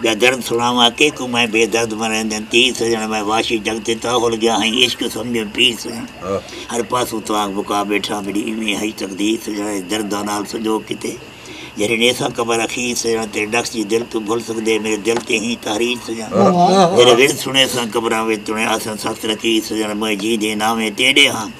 ٻیا درد سݨاواں کے کوں میں بے درد مریندیں تیر سڄݨ میں واشی جڳ تے تاں ہل ڳیا ہئیں عشق سمجھیں پیر سڄݨ ہر پاسوں تاک بکا ٻیٹھاں میݙی ایویں ہئی تقدیر سڄݨ اڄ درداں نال سنجوڳ کیتے جیڑھے نیساں قبر اخیر سڄݨ تیرے ݙکھ جی دل کیوں بھل سڳدے میݙے دل تے ہیں تحریر سڄݨ تیݙے ورد سݨیساں قبراں وچ تݨے آساں سخت لکیر سڄݨ میں جیندے ناویں تیݙے ہاں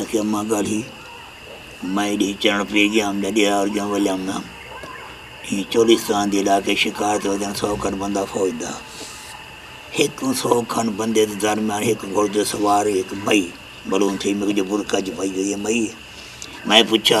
آکھیا ماں گالھی میں ڈی چنڑ پی گیا ہم جدی آر گیا ولیا ہم نام ہی چولستان دی علاقے شکار تے ودن سو کھن بندہ فوج دا ہک کن سو کھن بندے دے درمیان ہک گھوڑ دے سوار ہک مئی بلون تھی میرے جو برکا جو پائی ہوئی ہے مئی میں پوچھا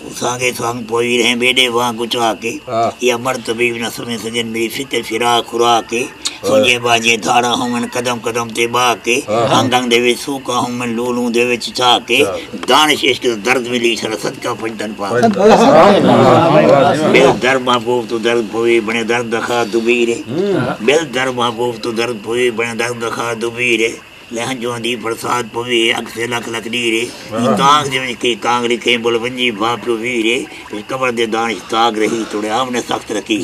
تساں دے سنگ پوی رہیں بیڈے واں گچا کے یا مر طبیب نہ سمے سجن میری فکر پھرا کھرا کے سونجے باجے دھاڑا ہوں من قدم قدم تے با کے انگ انگ دے وچ سوکا ہوں من لوں لوں دے وچ چا کے دانش عشق دا درد ملی سر صدقہ پنجتن پا بل در محبوب تو درد پوی بنے درد دخا دبیرے بل در محبوب تو درد پوی بنے درد دخا دبیرے لہن جو ہندی برسات پوی ہے اگ سے لکھ لکھ ڈیر ہے ای تاغ جے ونج کئی کانگری کہیں بول ونجی بھا پیو ویر ہے اس کبر دے دانش تاغ رہی توڑے آم نے سخت رکھی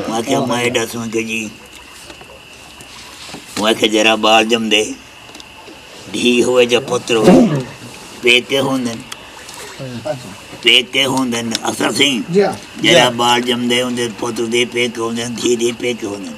ماں کیا ماں ایڈا سن کے جی ماں کیا جرا بال جم دے دھی ہوئے جا پتر ہوئے پیکے ہوں دن پیکے ہوں دن اثر سنگھ جرا بال جم دے ہوں دن پتر دے پیکے ہوں دن دھی دے پیکے ہوں دن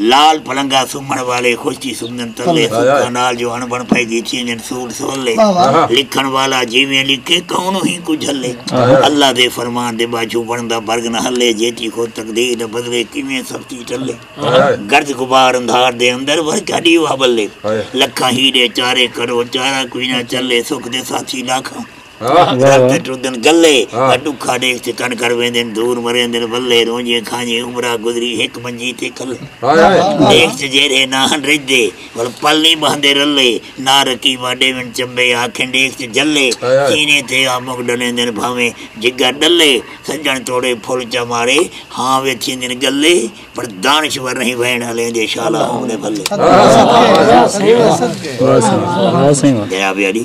لال پلنگا سمن والے خشکی سمن تلے سوکا نال جو ہن بن پھائی دی چینن سوٹ سولے لکھن والا جیویں لکھے کون ہی کو جھلے اللہ دے فرمان دے باجو بندا برگ نہ ہلے جیتی خود تقدیر نہ بدلے کیویں سختی ٹلے گرد غبار اندھار دے اندر ور کیا دیوا بلے لکھاں ہی دے چارے کرو چارا کوئی نہ چلے سکھ دے ساتھی لاکھاں گھر تے ٹردن گلے وا ڈکھا ڈیکھ تے کن کر ویندن دور مریندن ولے رونجیں کھانجیں عمرہ گزری ہک منجی تے کلے ڈیکھ تے جیرھے نہ ہن رجھدے ول پل نی بہندے رلے نہ رقیبا ڈیون چمبے آکھن ڈیکھ تے جلے سینے تے آ مک ڈلیندن بھانویں جگر ڈلے سجن توڑے پھل چا مارے ہاں وے تھیندن گلے پر دانشور نہیں وین ہلیں دے شالا ہوں نے بھلے جناب یاری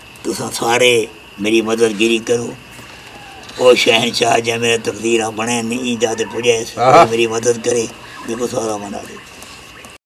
تساں سارے میݙی مدد گیری کرو۔ او شہنشاہ جئیں میݙا تقدیراں بݨئن نی ایں جاہ تے پڄئس، او میݙی مدد کرے، میکوں سزا بݨاوے۔